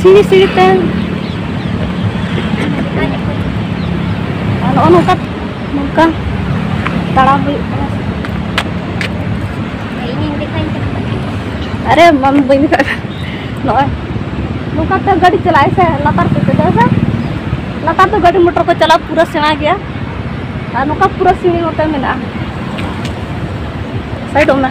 ᱥᱤᱲᱤ ᱥᱤᱲᱤ ᱛᱮ ᱱᱚᱜᱼᱚ ᱱᱚᱝᱠᱟ ᱱᱚᱝᱠᱟ ᱛᱟᱲᱟᱢ ᱦᱩᱭᱩᱜ ᱠᱟᱱᱟ ᱟᱨᱮ ᱢᱟᱢ ᱵᱟᱹᱧ ᱫᱮᱠᱷᱟᱜ ᱱᱚᱜᱼᱚᱭ ᱱᱚᱝᱠᱟ ᱛᱮ ᱜᱟᱹᱰᱤ ᱪᱟᱞᱟᱜᱼᱟᱭ ᱥᱮ ᱞᱟᱛᱟᱨ ᱛᱮ ᱫᱮᱡᱚᱜᱼᱟ ᱥᱮ ᱞᱟᱛᱟᱨ ᱫᱚ ᱜᱟᱹᱰᱤ ᱢᱚᱴᱚᱨ ᱠᱚ ᱪᱟᱞᱟᱣ ᱯᱩᱨᱟᱹ ᱥᱮᱬᱟ ᱜᱮᱭᱟ ᱟᱨ ᱱᱚᱝᱠᱟ ᱯᱩᱨᱟᱹ ᱥᱤᱲᱤ ᱱᱚᱛᱮ ᱢᱮᱱᱟᱜᱼᱟ ᱥᱟᱭᱤᱰᱚᱜ ᱢᱮ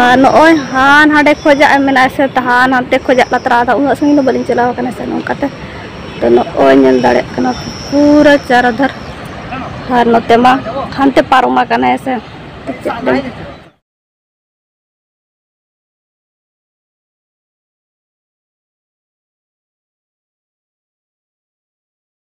ᱟᱨ ᱱᱚᱜᱼᱚᱭ ᱦᱟᱱ ᱦᱟᱸᱰᱮ ᱠᱷᱚᱡᱟᱜ ᱢᱮᱱᱟᱜᱼᱟ ᱥᱮ ᱛᱟᱦᱟᱱ ᱦᱟᱱᱛᱮ ᱠᱷᱚᱡᱟᱜ ᱞᱟᱛᱨᱟ ᱟᱫᱚ ᱩᱱᱟᱹᱜ ᱥᱟᱺᱜᱤᱧ ᱫᱚ ᱵᱟᱹᱞᱤᱧ ᱪᱟᱞᱟᱣ ᱟᱠᱟᱱᱟ ᱥᱮ ᱱᱚᱝᱠᱟᱛᱮ ᱛᱚ ᱱᱚᱜᱼᱚᱭ ᱧᱮᱞ ᱫᱟᱲᱮᱭᱟᱜ ᱠᱟᱱᱟ ᱯᱩᱨᱟᱹ ᱪᱟᱨᱟᱫᱷᱟᱨ ᱟᱨ ᱱᱚᱛᱮ ᱢᱟ ᱦᱟᱱᱛᱮ ᱯᱟᱨᱚᱢ ᱟᱠᱟᱱᱟ ᱦᱮᱸ ᱥᱮ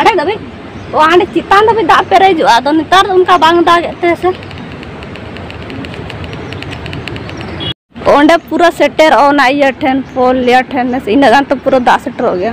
ᱟᱹᱰᱤ ᱫᱷᱟᱹᱵᱤᱡ ᱚ ᱦᱟᱸᱰᱮ ᱪᱮᱛᱟᱱ ᱫᱷᱟᱹᱵᱤᱡ ᱫᱟᱜ ᱯᱮᱨᱮᱡᱚᱜᱼᱟ ᱟᱫᱚ ᱱᱮᱛᱟᱨ ᱫᱚ ᱚᱱᱠᱟ ᱵᱟᱝ ᱫᱟᱜᱮᱫ ᱛᱮ ᱥᱮ ᱚᱸᱰᱮ ᱯᱩᱨᱟᱹ ᱥᱮᱴᱮᱨᱚᱜᱼᱟ ᱚᱱᱟ ᱤᱭᱟᱹ ᱴᱷᱮᱱ ᱯᱳᱞ ᱤᱭᱟᱹ ᱴᱷᱮᱱ ᱤᱱᱟᱹᱜ ᱜᱟᱱ ᱛᱚ ᱯᱩᱨᱟᱹ ᱫᱟᱜ ᱥᱮᱴᱮᱨᱚᱜ ᱜᱮᱭᱟ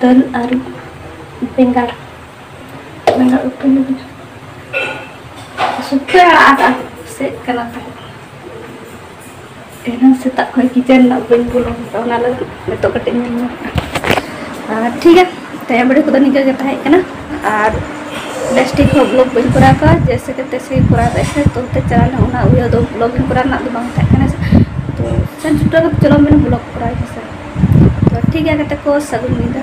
ᱫᱟᱹᱞ ᱟᱨ ᱵᱮᱸᱜᱟᱲ ᱵᱮᱸᱜᱟᱲ ᱩᱛᱩ ᱞᱟᱹᱜᱤᱫ ᱥᱩᱠᱷᱟᱹ ᱟᱲᱟᱜ ᱟᱫᱟ ᱥᱮᱫ ᱠᱟᱱᱟ ᱛᱚ ᱮᱱᱟᱝ ᱥᱮᱛᱟᱜ ᱠᱷᱚᱱ ᱠᱤᱪᱮᱱ ᱨᱮᱱᱟᱜ ᱵᱟᱹᱧ ᱵᱚᱞᱚ ᱠᱟᱛᱮ ᱚᱱᱟ ᱞᱟᱹᱜᱤᱫ ᱱᱤᱛᱚᱜ ᱠᱟᱹᱴᱤᱡ ᱧᱮᱞ ᱧᱚᱜ ᱴᱷᱤᱠ ᱜᱮᱭᱟ ᱛᱮᱦᱮᱧ ᱵᱷᱤᱰᱤᱭᱳ ᱠᱚᱫᱚ ᱱᱤᱝᱠᱟᱹ ᱜᱮ ᱛᱟᱦᱮᱸ ᱠᱟᱱᱟ ᱟᱨ ᱵᱮᱥᱴᱷᱤᱠ ᱦᱚᱸ ᱵᱞᱚᱜ ᱵᱟᱹᱧ ᱠᱚᱨᱟᱣ ᱠᱟᱜᱼᱟ ᱡᱮᱭᱥᱮ ᱠᱮ ᱛᱮᱥᱮ ᱠᱚᱨᱟᱣ ᱠᱟᱜᱼᱟ ᱥᱮ ᱛᱚ ᱛᱮ ᱪᱟᱞᱟᱣ ᱞᱮᱱᱟ ᱚᱱᱟ ᱩᱭᱦᱟᱹᱨ ᱫᱚ ᱵᱞᱚᱜ ᱤᱧ ᱠᱚᱨᱟᱣ ᱨᱮᱱᱟᱜ ᱫᱚ ᱵᱟᱝ ᱛᱟᱦᱮᱸ ᱠᱟᱱᱟ ᱛᱚ ᱥᱮᱱ ᱥᱮᱴᱮᱨ ᱠᱟᱛᱮ ᱪᱚᱞᱚ ᱢᱮᱱᱟ ᱵᱞᱚᱜ ᱠᱚᱨᱟᱣ ᱤᱧ ᱦᱮᱸᱥᱮ ᱛᱚ ᱴᱷᱤᱠ ᱜᱮᱭᱟ ᱜᱟᱛᱮ ᱠᱚ ᱥᱟᱹᱜᱩᱱ ᱧᱤᱫᱟᱹ